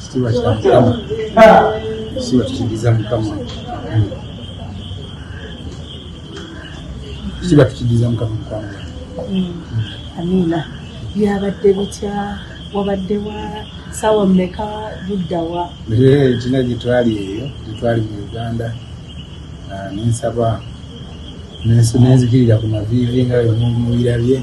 Kitiibwa kya Mukama. Kitiibwa tukidiza Mukama. Kitiibwa tukidiza Mukama Mukama. Amina. Byabadde bitya? Wabadde wa saawa mmeka ludda wa? Kina gye twali eyo, gye twali mu Uganda, ah, nensaba nenzikirira ku maviivi nga bwe mubirabye.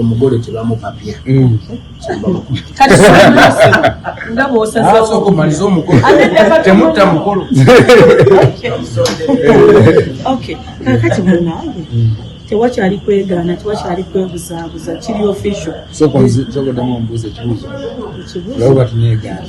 omugole tebamupapya mm. ngabosaokumaliza omukotemutta mukolo kakati munange tewakyali kwegaana tewakyali kwebuzaabuza kiri official sokodamu omubuuza ekibuuzo ekibuuzo laba batunegaana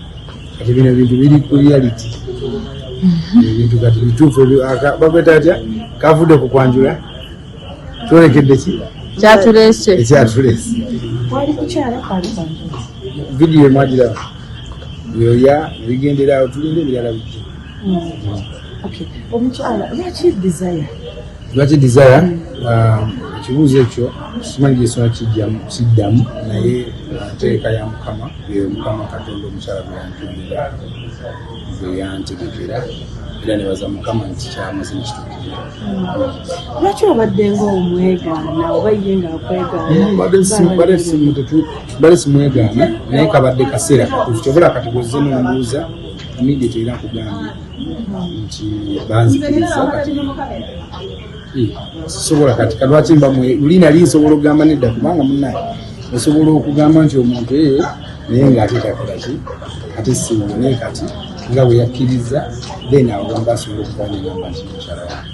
kati bino bintu biri ku reality mhm. ebintu kati bituufu bakweta atya kavudde ku kwanjula kyolekedde ki kyatulese ekyatulese vidiyo emwagiraba yoya ebigendera awo tulinde ebirala bijja omukyala lwaki desire lwaki desire um, ekibuuzo ekyo simanyi gyesona kijjamu siddamu naye uh, nteeka ya mukama Eyo Mukama Katonda omukyala gwe yantondera gwe yantegekera era nebaza Mukama nti kyamaze nekitukirira. Hmm. Lwaki obadde ngaomwegaana oba ye ngaakwegaanabadde hmm, simwegaana naye kabadde kaseera katuufu kyobola kati gwezze nombuuza immediate era kugambye hmm. nti banzikiriza kati sobola kati kalwaki mba luli nali nsobola okugamba nedda kubanga munaye osobola okugamba nti omuntu eyo naye ngaate takolaki ate siwone kati nga bweyakkiriza then awo wamba asobola okugamba namba nti mukyala wange